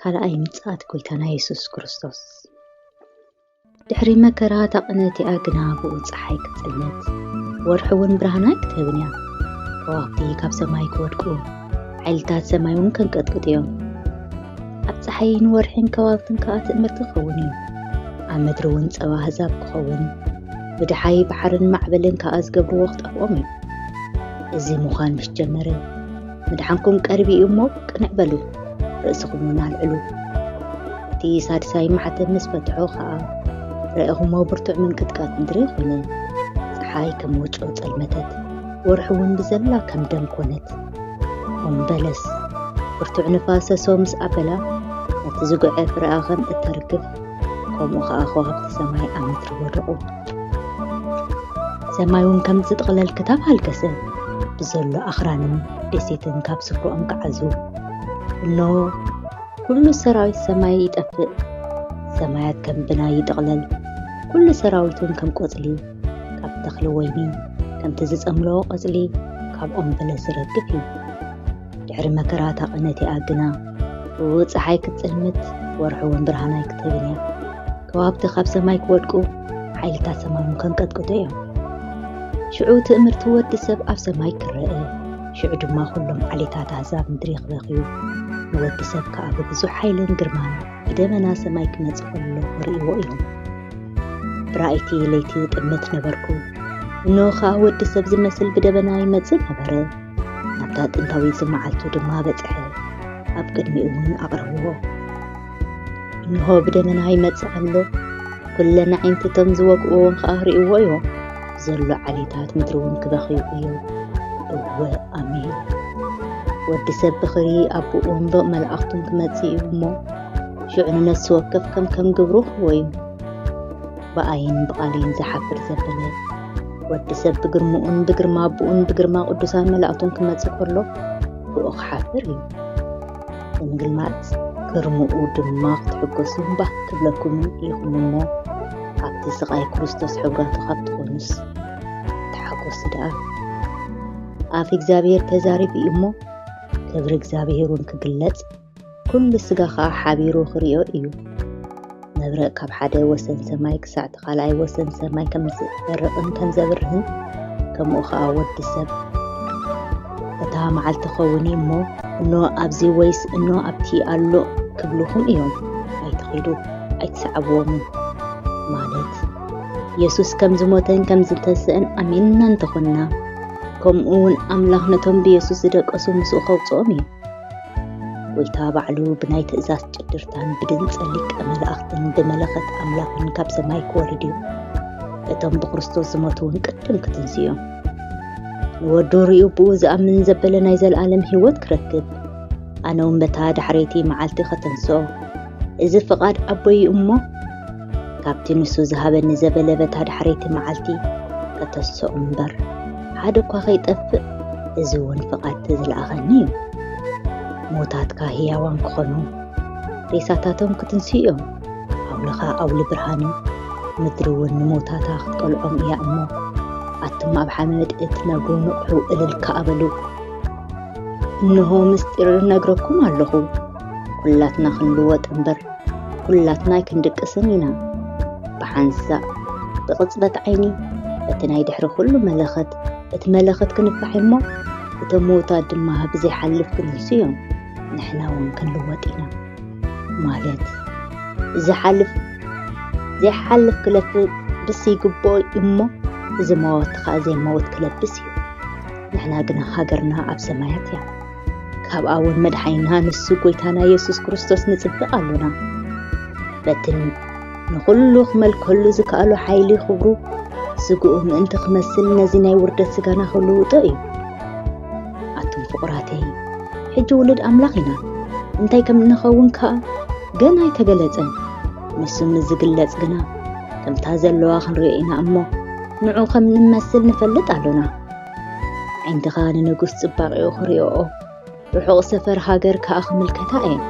ካልኣይ ምጽኣት ጐይታና የሱስ ክርስቶስ ድሕሪ መከራ ታቕነት እያ ግና ብኡ ፀሓይ ክትፅልመት ወርሒ እውን ብርሃና ክትህብን እያ ከዋክብቲ ካብ ሰማይ ክወድቁ ሓይልታት ሰማይ እውን ከንቀጥቅጡ እዮም ኣብ ፀሓይን ወርሒን ከባብትን ከዓ ትእምርቲ ክኸውን እዩ። ኣብ ምድሪ እውን ፀባ ኣህዛብ ክኸውን፣ ብድሓይ ባሕርን ማዕበልን ከዓ ዝገብርዎ ክጠፍኦም እዩ። እዚ ምዃን ምስ ጀመረ ምድሓንኩም ቀሪቡ እዩ እሞ ቅንዕ በሉ፣ ርእስኹም እውን ኣልዕሉ። እቲ ሳድሳይ ማሕተም ምስ ፈትሖ ከዓ ረኢኹሞ ብርቱዕ ምንቅጥቃጥ ምድሪ ኾነ። ፀሓይ ከም ወጮ ፀልመተት፣ ወርሒ እውን ብዘላ ከም ደም ኮነት። እምበለስ ብርቱዕ ንፋስ ሰሶ ምስ ኣበላ ነቲ ዝጉዐ ፍረኣ ኸም እተርግፍ ከምኡ ኸዓ ከዋኽብቲ ሰማይ ኣብ ምድሪ ወደቑ ሰማይ እውን ከም ዝጥቕለል ክታብ ሃልከሰ ብዘሎ ኣኽራንን ደሴትን ካብ ስፍርኦም ክዓዙ እኖ ኩሉ ሰራዊት ሰማይ ይጠፍእ ሰማያት ከም ብናይ ይጥቕለል ኩሉ ሰራዊትን ከም ቆፅሊ ካብ ተኽሊ ወይኒ ከምቲ ዝጸምሎ ቘጽሊ ካብ ኦም በለስ ዝረግፍ እዩ። ድሕሪ መከራ እታ ቕነት እያ ግና ብውእ ጸሓይ ክትጽልምት ወርሒ እውን ብርሃን ኣይክትህብን እያ። ከዋክብቲ ካብ ሰማይ ክወድቁ ሓይልታት ሰማይ እውን ከንቀጥቅጡ እዮም። ሽዑ ትእምርቲ ወዲ ሰብ ኣብ ሰማይ ክረአ ሽዑ ድማ ኩሎም ዓሌታት ኣህዛብ ምድሪ ክበኽዩ ንወዲ ሰብ ከኣ ብብዙሕ ሓይልን ግርማን ብደመና ሰማይ ክመጽእ ከሎ ክርእይዎ እዮም። ብራእይቲ ለይቲ ጥምት ነበርኩ። እንሆ ኸኣ ወዲ ሰብ ዝመስል ብደበና ይመጽእ ነበረ። ናብታ ጥንታዊት መዓልቱ ድማ በጽሐ፣ ኣብ ቅድሚኡ እውን ኣቕረብዎ። እንሆ ብደመና ይመጽእ ኣሎ፣ ኵለን ኣዒንትቶም ዝወግእዎም ኸኣ ርእይዎ እዮም። ዘሎ ዓሌታት ምድሪ እውን ክበኽዩ እዮም እወ ኣሜን ወዲ ሰብ ብኽሪ ኣቦኡን ብ መላእኽቱን ክመጽእ እዩ እሞ ሽዑ ንነፍሲ ወከፍ ከም ከም ግብሩ ክወዩ ብኣይን ብቓሌን ዝሓፍር ዘበለ ወዲ ሰብ ብግርምኡን ብግርማ ኣቦኡን ብግርማ ቅዱሳን መላእኽቱን ክመጽእ ከሎ ብኡ ክሓፍር እዩ ብምግላጽ ግርምኡ ድማ ክትሕጎሱን ባህ ክብለኩምን ኢኹም እሞ ኣብቲ ስቓይ ክርስቶስ ሕብራቱ ካብ ትኾኑስ ተሓጎሱ ደኣ ኣፍ እግዚኣብሔር ተዛሪቡ እዩ እሞ ክብሪ እግዚኣብሔር እውን ክግለጽ ኩሉ ስጋ ከዓ ሓቢሩ ክሪኦ እዩ መብረቕ ካብ ሓደ ወሰን ሰማይ ክሳዕ እቲ ካልኣይ ወሰን ሰማይ ከም ዝበርቕን ከም ዘብርህን ከምኡ ኸኣ ወዲ ሰብ እታ መዓልቲ ኸውን እሞ እኖ ኣብዚ ወይስ እኖ ኣብቲ ኣሎ ክብልኹም እዮም ኣይትኺዱ ኣይትሰዓብዎምን ማለት የሱስ ከም ዝሞተን ከም ዝተስእን ኣሚንና እንተኾንና ከምኡ እውን ኣምላኽ ነቶም ብየሱስ ዝደቀሱ ምስኡ ከውፅኦም እዩ ጎይታ ባዕሉ ብናይ ትእዛዝ ጭድርታን ብድምፂ ሊቀ መላእኽትን ብመለኸት ኣምላኽን ካብ ሰማይ ክወርድ እዩ እቶም ብክርስቶስ ዝሞቱ እውን ቅድም ክትንስ እዮም ንወዱ ርኡ ብኡ ዝኣምን ዘበለ ናይ ዘለኣለም ህይወት ክረክብ ኣነ እውን በታ ዳሕረይቲ መዓልቲ ከተንስኦ እዚ ፍቓድ ኣቦይ እሞ ካብቲ ንሱ ዝሃበኒ ዘበለበታ ዳሕረይቲ መዓልቲ ከተሰኡ እምበር ሓደ እኳ ከይጠፍእ እዚ እውን ፍቓድቲ ዝለኣኸኒ እዩ ሞታትካ ህያዋን ክኾኑ ሬሳታቶም ክትንስ እዮም ኣውልኻ ኣውሊ ብርሃን እዩ ምድሪ እውን ንሞታታ ክትቀልዖም እያ እሞ ኣቱም ኣብ ሓመድ እትነብሩ ንቕሑ እልል ከኣበሉ እንሆ ምስጢር ነግረኩም ኣለኹ ኩላትና ክንልወጥ እምበር ኩላትና ኣይክንድቅስን ኢና። ብሓንሳእ ብቕጽበት ዓይኒ እቲ ናይ ድሕሪ ኩሉ መለኸት እቲ መለኸት ክንፋሕ እሞ እቶም ምዉታት ድማ ኣብ ዘይሓልፍ ክንሱ እዮም። ንሕና እውን ክንልወጥ ኢና ማለት ዝሓልፍ ዘይሓልፍ ክለብስ ይግብኦ እሞ እዚ መወት ከዓ ዘይመወት ክለብስ እዩ። ንሕና ግና ሃገርና ኣብ ሰማያት እያ። ካብኣ እውን መድሓይና ንሱ ጎይታና የሱስ ክርስቶስ ንጽበ ኣሎና በቲ ንዅሉ ክመልከሉ ዝከኣሉ ሓይሊ ኽብሩ ስግኡ ምእንቲ ክመስል ነዚ ናይ ውርደት ስጋና ክልውጦ እዩ ኣቱም ፍቕራተይ ሕጂ ውሉድ ኣምላኽ ኢና እንታይ ከም እንኸውን ከኣ ገና ኣይተገለጸን ንሱ ምስ ዝግለጽ ግና ከምታ ዘለዋ ክንሪኦ ኢና እሞ ንዑ ከም ንመስል ንፈልጥ ኣሎና ዓንድኻ ንንጉስ ጽባቂኡ ክሪኦኦ ርሑቕ ሰፈር ሃገር ከኣ ክምልከታ እየን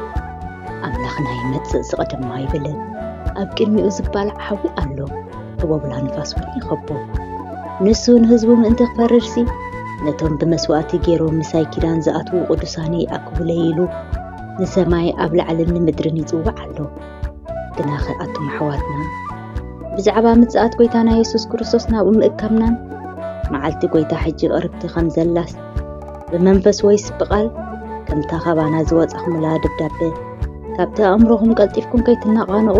ኣምላኽና ይመጽእ ዝቐደማ ይብልን ኣብ ቅድሚኡ ዝባል ዓዊ ኣሎ ህቦብላ ንፋስ እውን ይኸቦ ንሱ ንህዝቡ ምእንቲ ክፈርድሲ ነቶም ብመስዋእቲ ገይሮም ምሳይ ኪዳን ዝኣትዉ ቅዱሳኒ ይኣክቡለይ ኢሉ ንሰማይ ኣብ ላዕልን ንምድርን ይጽዋዕ ኣሎ ግናኸ ኣቱም ኣሕዋትና ብዛዕባ ምጽኣት ጐይታና የሱስ ክርስቶስ ናብኡ ምእከብናን መዓልቲ ጐይታ ሕጂ ቕርብቲ ኸም ዘላስ ብመንፈስ ወይስ ብቓል ከምታ ኻባና ዝወጻኹምላ ደብዳበ ካብቲ ኣእምሮኹም ቀልጢፍኩም ከይትናቓነቑ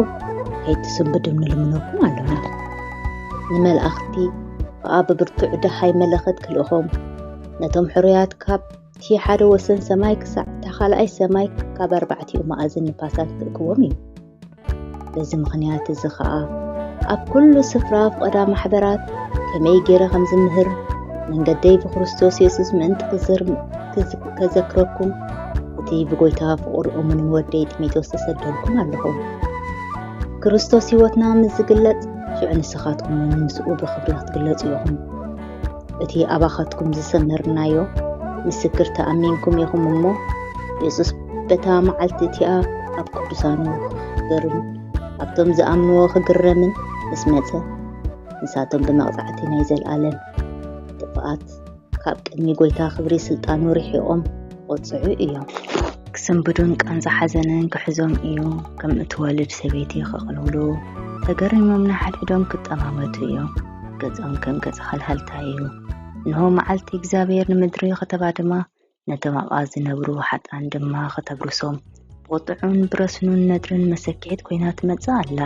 ከይትስንብድም ንልምነኩም ኣሎና ንመላእኽቲ ከኣ ብብርቱዕ ደሃይ መለኸት ክልእኾም ነቶም ሕሩያት ካብ እቲ ሓደ ወሰን ሰማይ ክሳዕ እታ ካልኣይ ሰማይ ካብ ኣርባዕቲኡ መኣዝን ንፋሳት ክእክቦም እዩ። በዚ ምኽንያት እዚ ኸኣ ኣብ ኩሉ ስፍራ ፍቐዳ ማሕበራት ከመይ ገይረ ከም ዝምህር መንገደይ ብክርስቶስ የሱስ ምእንቲ ከዘክረኩም እቲ ብጎይታ ፍቑር እሙንን ወደይ ጢሞቴዎስ ተሰደልኩም ኣለኹ። ክርስቶስ ህይወትና ምስ ዝግለጽ ሽዑ ንስኻትኩም እውን ምስኡ ብኽብሪ ክትግለጹ ኢኹም። እቲ ኣባኻትኩም ዝሰመርናዮ ምስክር ተኣሚንኩም ኢኹም እሞ የሱስ በታ መዓልቲ እቲኣ ኣብ ቅዱሳኑ ክኽብርን ኣብቶም ዝኣምንዎ ክግረምን ምስ መጸ ንሳቶም ብመቕጻዕቲ ናይ ዘልኣለም ጥፍኣት ካብ ቅድሚ ጎይታ ክብሪ ስልጣኑ ርሒቖም ክቆፅዑ እዮም። ክስንብዱን ቃንዛ ሓዘንን ክሕዞም እዩ። ከም እትወልድ ሰበይቲ ክቕልውሉ ተገሪሞም ንሓድሕዶም ክጠማመቱ እዮም። ገጾም ከም ገጽ ሃልሃልታ እዩ። እንሆ መዓልቲ እግዚኣብሔር ንምድሪ ከተባድማ ነቶም ኣብኣ ዝነብሩ ሓጣን ድማ ከተብርሶም ብቑጥዑን ብረስኑን ነድርን መሰኪሒት ኮይና ትመጽእ ኣላ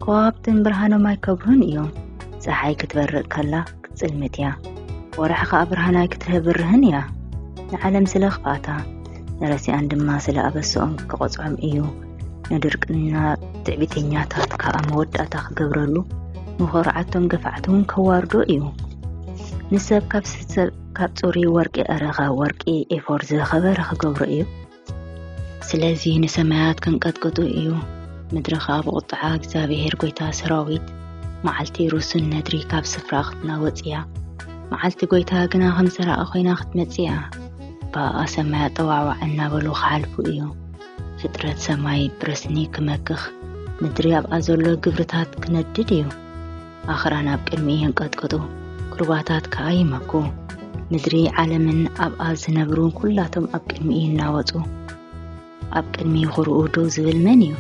ከዋብትን ብርሃኖም ኣይከብሩን እዮም ፀሓይ ክትበርቕ ከላ ክትፅልምት እያ ወርሒ ከዓ ብርሃን ኣይክትህብርህን እያ ንዓለም ስለ ክፍኣታ ንረሲኣን ድማ ስለ ኣበስኦም ክቐፅዖም እዩ ንድርቅና ትዕቢተኛታት ከዓ መወዳእታ ክገብረሉ ንኾርዓቶም ገፋዕቲ እውን ከዋርዶ እዩ ንሰብ ካብ ሰብ ካብ ፅሩይ ወርቂ ዕረኻ ወርቂ ኤፎር ዝኸበረ ክገብሮ እዩ ስለዚ ንሰማያት ክንቀጥቅጡ እዩ ምድሪ ከዓ ብቁጥዓ እግዚኣብሄር ጎይታ ሰራዊት መዓልቲ ሩሱን ነድሪ ካብ ስፍራ ክትናወፅ እያ መዓልቲ ጎይታ ግና ከም ሰራቂ ኮይና ክትመፅ እያ ብኣኣ ሰማያ ጠዋዕዋዕ እናበሉ ክሓልፉ እዩ ፍጥረት ሰማይ ብረስኒ ክመክኽ ምድሪ ኣብኣ ዘሎ ግብርታት ክነድድ እዩ ኣኽራን ኣብ ቅድሚ የንቀጥቀጡ፣ ሩባታት ከኣ ይመኩ። ምድሪ ዓለምን ኣብኣ ዝነብሩ ኩላቶም ኣብ ቅድሚ ይናወጹ። ኣብ ቅድሚ ኹርኡ ደው ዝብል መን እዩ?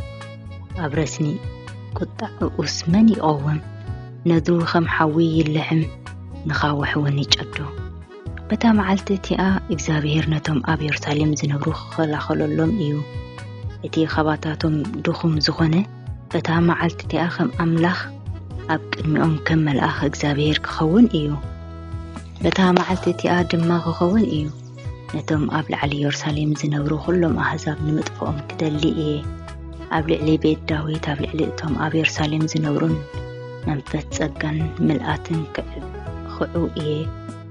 ኣብ ረስኒ ቁጣዕኡስ መን ይቐውም? ነዱ ኸም ሓዊ ይልሕም፣ ንኻውሕ እውን ይጨዱ። በታ መዓልቲ እቲኣ እግዚኣብሄር ነቶም ኣብ የሩሳሌም ዝነብሩ ክኸላኸለሎም እዩ እቲ ኻባታቶም ድኹም ዝኾነ በታ መዓልቲ እቲኣ ኸም ኣምላኽ ኣብ ቅድሚኦም ከም መልኣኽ እግዚኣብሄር ክኸውን እዩ በታ መዓልቲ እቲኣ ድማ ክኸውን እዩ ነቶም ኣብ ላዕሊ የሩሳሌም ዝነብሩ ኩሎም ኣህዛብ ንምጥፍኦም ክደሊ እየ ኣብ ልዕሊ ቤት ዳዊት ኣብ ልዕሊ እቶም ኣብ የሩሳሌም ዝነብሩን መንፈስ ጸጋን ምልኣትን ክዑ እየ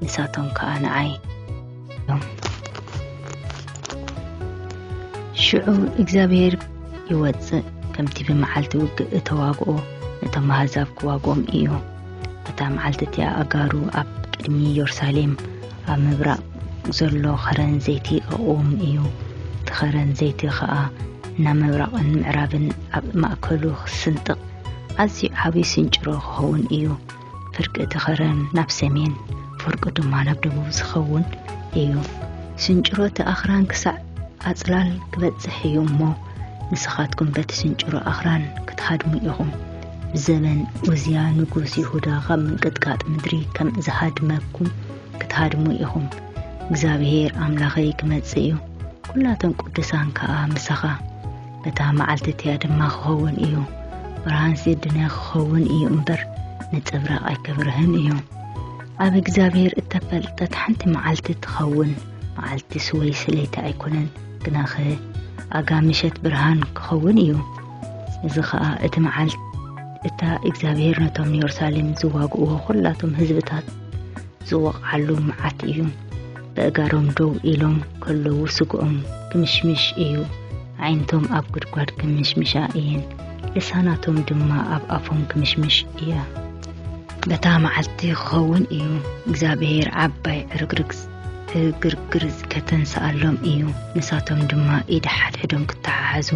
ንሳቶም ከኣ ንዓይ እዮም ሽዑ እግዚኣብሔር ይወፅእ ከምቲ ብመዓልቲ ውግእ እተዋግኦ ነቶም ኣህዛብ ክዋግኦም እዩ እታ መዓልቲ እቲኣ ኣጋሩ ኣብ ቅድሚ የሩሳሌም ኣብ ምብራቕ ዘሎ ኸረን ዘይቲ ኣቕውም እዩ እቲ ኸረን ዘይቲ ኸኣ እናመብራቕን ምዕራብን ኣብ ማእከሉ ክስንጥቕ ኣዝዩ ዓብዪ ስንጭሮ ክኸውን እዩ። ፍርቂ እቲ ኸረን ናብ ሰሜን ፍርቁ ድማ ናብ ደቡብ ዝኸውን እዩ ስንጭሮ እቲ ኣኽራን ክሳዕ ኣጽላል ክበጽሕ እዩ እሞ ንስኻትኩም በቲ ስንጭሮ ኣኽራን ክትሃድሙ ኢኹም ብዘበን ኡዝያ ንጉስ ይሁዳ ኻብ ምንቅጥቃጥ ምድሪ ከም ዝሃድመኩም ክትሃድሙ ኢኹም እግዚኣብሄር ኣምላኸይ ክመጽእ እዩ ኵላቶም ቅዱሳን ከኣ ምሳኻ እታ መዓልቲ እቲኣ ድማ ክኸውን እዩ ብርሃን ሲድነ ክኸውን እዩ እምበር ንጽብራቕ ኣይከብርህን እዩ ኣብ እግዚኣብሔር እተፈልጠት ሓንቲ መዓልቲ ትኸውን መዓልቲ ስወይ ስለይቲ ኣይኮነን ግናኸ ኣጋ ምሸት ብርሃን ክኸውን እዩ እዚ ኸኣ እቲ መዓልቲ እታ እግዚኣብሔር ነቶም ንየሩሳሌም ዝዋግእዎ ዅላቶም ህዝብታት ዝወቕዓሉ መዓት እዩ በእጋሮም ደው ኢሎም ከለዉ ስግኦም ክምሽምሽ እዩ ዓይንቶም ኣብ ጉድጓድ ክምሽምሻ እየን ልሳናቶም ድማ ኣብ ኣፎም ክምሽምሽ እያ በታ መዓልቲ ክኸውን እዩ እግዚኣብሄር ዓባይ ዕርግርግ ዕግርግር ከተንስኣሎም እዩ ንሳቶም ድማ ኢድ ሓድሕዶም ክተሓሓዙ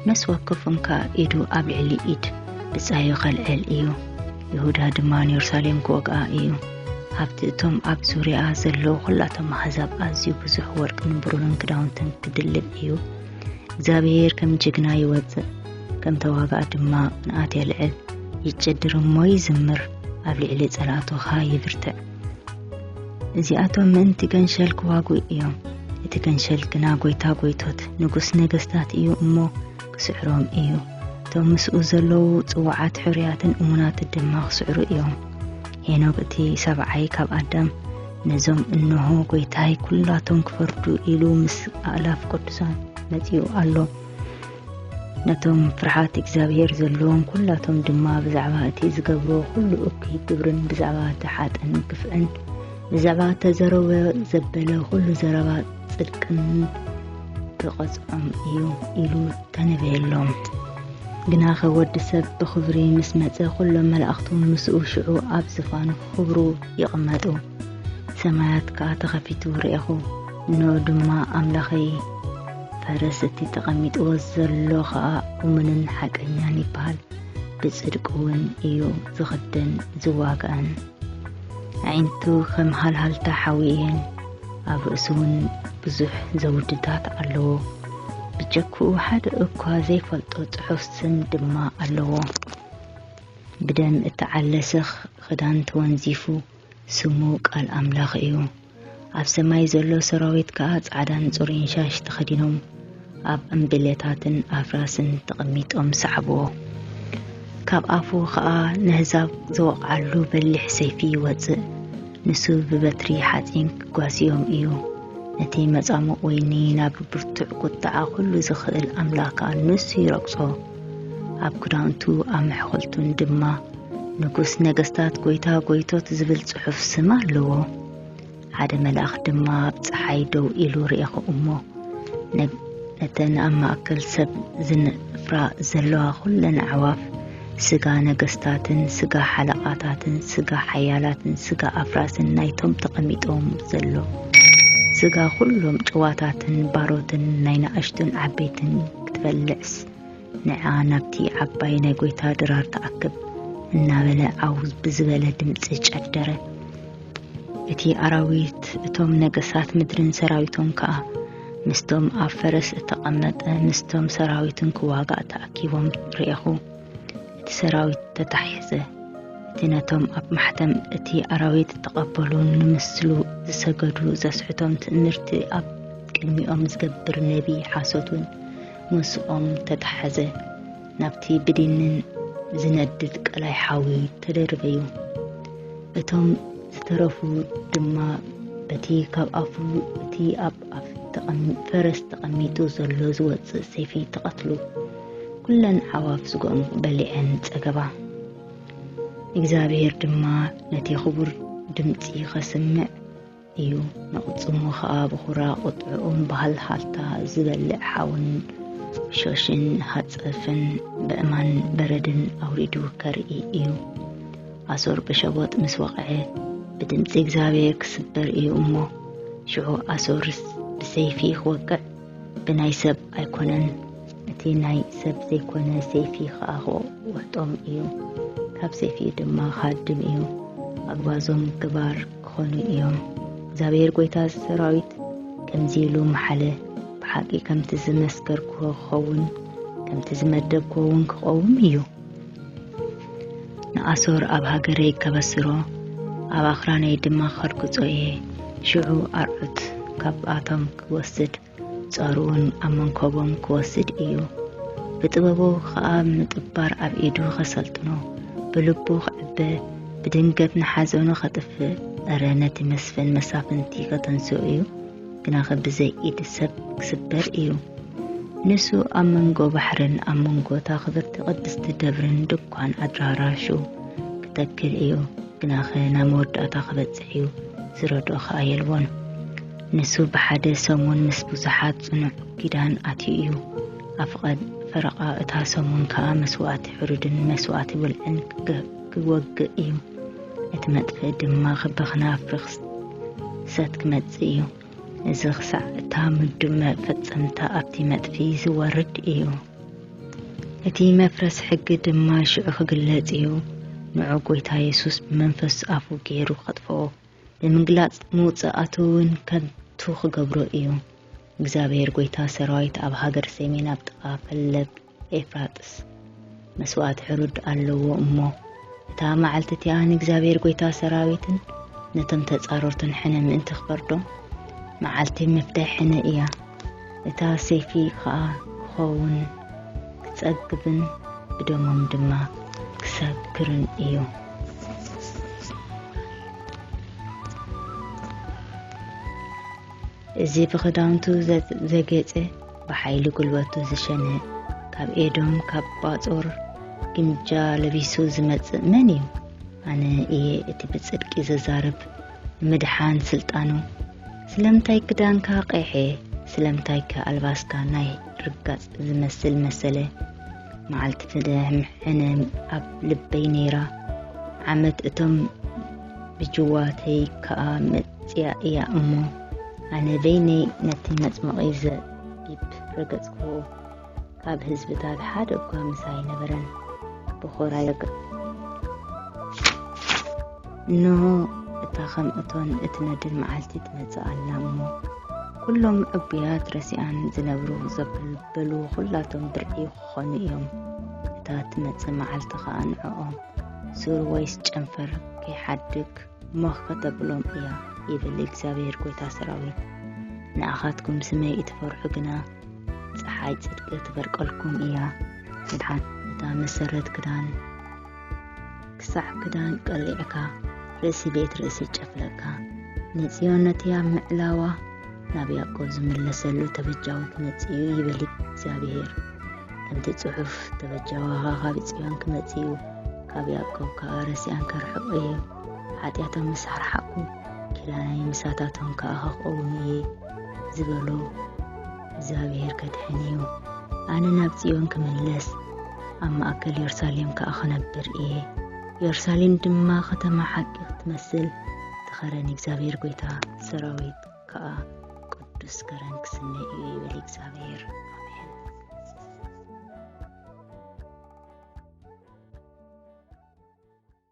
ነስ ወከፎም ከዓ ኢዱ ኣብ ልዕሊ ኢድ ብፃዩ ከልዕል እዩ ይሁዳ ድማ ንየሩሳሌም ክወግኣ እዩ ኣብቲ እቶም ኣብ ዙርያኣ ዘለዉ ዅላቶም ኣሕዛብ ኣዝዩ ብዙሕ ወርቅን ብሩርን ክዳውንትን ክድልብ እዩ እግዚኣብሄር ከም ጅግና ይወጽእ ከም ተዋጋእ ድማ ንኣት የልዕል ይጨድር እሞ ይዝምር ኣብ ልዕሊ ጸላእቶኻ ይብርትዕ እዚኣቶም ምእንቲ ገንሸል ክዋጉእ እዮም እቲ ገንሸል ግና ጐይታ ጐይቶት ንጉስ ነገስታት እዩ እሞ ክስዕሮም እዩ። እቶም ምስኡ ዘለዉ ጽዋዓት ሕሩያትን እሙናት ድማ ክስዕሩ እዮም። ሄኖክ እቲ ሰብዓይ ካብ ኣዳም ነዞም እንሆ ጐይታይ ኵላቶም ክፈርዱ ኢሉ ምስ ኣእላፍ ቅዱሳን መጺኡ ኣሎ። ነቶም ፍርሓት እግዚኣብሔር ዘለዎም ኩላቶም ድማ ብዛዕባ እቲ ዝገብሮ ኩሉ እኩይ ግብርን ብዛዕባ እቲ ሓጥን ግፍዕን ብዛዕባ ተዘረበ ዘበለ ኩሉ ዘረባ ጽድቅን ክቐጽዖም እዩ ኢሉ ተነበየሎም። ግናኸ ወዲ ሰብ ብኽብሪ ምስ መጸ ዅሎም መላእኽቱ ምስኡ ሽዑ ኣብ ዝፋኑ ክኽብሩ ይቕመጡ። ሰማያት ከኣ ተኸፊቱ ርኤኹ፣ እንሆ ድማ ኣምላኸይ ፈረስ እቲ ተቐሚጥዎ ዘሎ ኸኣ እሙንን ሓቀኛን ይበሃል፣ ብጽድቅ እውን እዩ ዝኽደን ዝዋጋእን። ኣዒንቱ ኸም ሃልሃልታ ሓዊ እየን፣ ኣብ ርእሱ እውን ብዙሕ ዘውድታት ኣለዎ ብጀክኡ ሓደ እኳ ዘይፈልጦ ጽሑፍ ስም ድማ ኣለዎ ብደም እተዓለስኽ ኽዳን ተወንዚፉ ስሙ ቃል ኣምላኽ እዩ ኣብ ሰማይ ዘሎ ሰራዊት ከኣ ጻዕዳን ጽሩይን ሻሽ ተኸዲኖም ኣብ ዕምብለታትን ኣፍራስን ተቐሚጦም ሰዓብዎ። ካብ ኣፉ ኸኣ ነህዛብ ዘወቕዓሉ በሊሕ ሰይፊ ይወጽእ፣ ንሱ ብበትሪ ሓጺን ኪጓስዮም እዩ። ነቲ መጻሙቕ ወይኒ ናብ ብርቱዕ ቍጥዓ ዅሉ ዚኽእል ኣምላኽ ንሱ ይረግጾ፣ ኣብ ክዳውንቱ ኣብ መሕኰልቱን ድማ ንጉስ ነገስታት ጐይታ ጐይቶት ዚብል ጽሑፍ ስም ኣለዎ። ሓደ መልኣኽ ድማ ኣብ ፀሓይ ደው ኢሉ ርኤኹ እሞ ነተን ኣብ ማእከል ሰብ ዝነፍራ ዘለዋ ኹለን ኣዕዋፍ ስጋ ነገስታትን ስጋ ሓለቓታትን ስጋ ሓያላትን ስጋ ኣፍራስን ናይቶም ተቐሚጦም ዘሎ ስጋ ኹሎም ጭዋታትን ባሮትን ናይ ናእሽቱን ዓበይትን ክትበልዕስ ንዓ ናብቲ ዓባይ ናይ ጎይታ ድራር ተኣክብ እናበለ ዓው ብዝበለ ድምፂ ጨደረ። እቲ ኣራዊት እቶም ነገሳት ምድርን ሰራዊቶም ከዓ ምስቶም ኣብ ፈረስ እተቐመጠ ምስቶም ሰራዊትን ክዋጋእ ተኣኪቦም ርኤኹ እቲ ሰራዊት ተታሒዘ እቲ ነቶም ኣብ ማሕተም እቲ ኣራዊት እተቐበሉ ንምስሉ ዝሰገዱ ዘስሕቶም ትእምርቲ ኣብ ቅድሚኦም ዝገብር ነቢ ሓሶት እውን ምስኦም ተተሓዘ ናብቲ ብዲንን ዝነድድ ቀላይ ሓዊ ተደርበዩ። እቶም ዝተረፉ ድማ በቲ ካብ ኣፉ እቲ ኣብ ኣፍ ፈረስ ተቐሚጡ ዘሎ ዝወፅእ ሰይፊ ተቐትሉ። ኩለን ዓዋፍ ስግኦም በሊዐን ፀገባ። እግዚኣብሔር ድማ ነቲ ክቡር ድምፂ ከስምዕ እዩ ንቕጽሙ ኸኣ ብኹራ ቁጥዕኡም ብሃልሃልታ ዝበልዕ ሓውን ሸሽን ሃጸፍን ብእማን በረድን ኣውሪዱ ከርኢ እዩ ኣሶር ብሸቦጥ ምስ ወቕዐ ብድምፂ እግዚኣብሔር ክስበር እዩ እሞ ሽዑ ኣሶርስ ብሰይፊ ክወቅዕ ብናይ ሰብ ኣይኮነን እቲ ናይ ሰብ ዘይኮነ ሰይፊ ኸኣ ክወቅጦም እዩ ካብ ሰይፊ ድማ ክሃድም እዩ ኣግባዞም ግባር ክኾኑ እዮም እግዚኣብሔር ጎይታ ሰራዊት ከምዚ ኢሉ መሓለ ብሓቂ ከምቲ ዝመስከርክዎ ክኸውን ከምቲ ዝመደብክዎ እውን ክቐውም እዩ ንኣሶር ኣብ ሃገረይ ከበስሮ ኣብ ኣኽራነይ ድማ ከርግጾ እየ ሽዑ ኣርዑት ካብኣቶም ክወስድ ጸሩውን ኣብ መንኮቦም ክወስድ እዩ ብጥበቡ ኸኣ ምጥባር ኣብ ኢዱ ኸሰልጥኖ ብልቡ ኽዕበ ብድንገት ንሓዘኑ ኸጥፍእ እረ ነቲ መስፍን መሳፍንቲ ኸተንስኡ እዩ ግናኸ ብዘይ ኢድ ሰብ ክስበር እዩ ንሱ ኣብ መንጎ ባሕርን ኣብ መንጎ እታ ክብርቲ ቅድስቲ ደብርን ድኳን ኣድራራሹ ክተክል እዩ ግናኸ ናብ መወዳእታ ክበጽሕ እዩ ዝረድኦ ኸኣ የልቦን ንሱ ብሓደ ሰሙን ምስ ብዙሓት ጽኑዕ ኪዳን ኣትዩ እዩ። ኣብ ፍቐድ ፈረቓ እታ ሰሙን ከኣ መስዋእቲ ሕሩድን መስዋእቲ ውልዕን ክወግእ እዩ። እቲ መጥፍእ ድማ ብኽናፍ ርኽሰት ክመጽእ እዩ። እዚ ክሳዕ እታ ምዱብ መፈጸምታ ኣብቲ መጥፊ ዝወርድ እዩ። እቲ መፍረስ ሕጊ ድማ ሽዑ ክግለጽ እዩ። ንዑ ጎይታ የሱስ ብመንፈስ ኣፉ ገይሩ ከጥፍኦ ንምግላጽ ምውጽኣቱ እውን ከንቱ ክገብሮ እዩ። እግዚኣብሔር ጐይታ ሰራዊት ኣብ ሃገር ሰሜን ኣብ ጥቓ ፈለግ ኤፍራጥስ መስዋእቲ ሕሩድ ኣለዎ እሞ እታ መዓልቲ እቲኣ ንእግዚኣብሔር ጐይታ ሰራዊትን ነቶም ተጻረርቱን ሕነ ምእንቲ ክፈርዶም መዓልቲ መፍትሒ ሕነ እያ። እታ ሰይፊ ኸኣ ክኸውን፣ ክጸግብን ብደሞም ድማ ክሰክርን እዩ። እዚ ብኽዳውንቱ ዘጌጸ፣ ብሓይሊ ጉልበቱ ዝሸነ፣ ካብ ኤዶም ካብ ባጾር ግምጃ ለቢሱ ዝመጽእ መን እዩ? ኣነ እየ እቲ ብጽድቂ ዘዛርብ፣ ንምድሓን ስልጣኑ ስለምንታይ ክዳንካ ቀይሐ ስለምንታይ ከ ኣልባስካ ናይ ርጋጽ ዝመስል መሰለ መዓልቲ ፍደሕምሕነ ኣብ ልበይ ነይራ ዓመት እቶም ብጅዋተይ ከኣ መጽያ እያ እሞ ኣነ በይነይ ነቲ መጽመቒ ዘቢብ ረገጽክዎ ካብ ህዝብታት ሓደ እኳ ምሳ ኣይነበረን ብኹራ ይግ እንሆ እታ ከም እቶን እትነድድ መዓልቲ ትመጽእ ኣላ እሞ ኩሎም ዕቡያት ረሲኣን ዝነብሩ ዘበሉ ኩላቶም ብርዒ ክኾኑ እዮም እታ ትመጽእ መዓልቲ ኸዓ ንዕኦም ሱር ወይስ ጨንፈር ከይሓድግ ሞኽ ከተብሎም እያ ይብል እግዚኣብሔር ጎይታ ሰራዊት ንኣኻትኩም ስመይ እትፈርሑ ግና ፀሓይ ፅድቂ ትበርቀልኩም እያ ምድሓን እታ መሰረት ክዳን ክሳዕ ክዳን ቀሊዕካ ርእሲ ቤት ርእሲ ጨፍለካ ንፅዮን ነቲ ኣብ ምዕላዋ ናብ ያዕቆብ ዝምለሰሉ ተበጃዊ ክመፅእ እዩ ይብል እግዚኣብሄር ከምቲ ፅሑፍ ተበጃዋኻ ካብ ፅዮን ክመፅእ እዩ ካብ ያዕቆብ ከዓ ረሲኣን ከርሕቕ እዩ ሓጢኣቶም ምስ ኣርሓቕኩ ኪዳነይ ምሳታቶም ከኣ ኸኽእውን እየ ዝበሎ እግዚኣብሔር ከድሕን እዩ ኣነ ናብ ጽዮን ክምለስ ኣብ ማእከል የሩሳሌም ከኣ ኸነብር እየ የሩሳሌም ድማ ኸተማ ሓቂ ክትመስል ትኸረን እግዚኣብሔር ጐይታ ሰራዊት ከኣ ቅዱስ ከረን ክስነ እዩ ይብል እግዚኣብሔር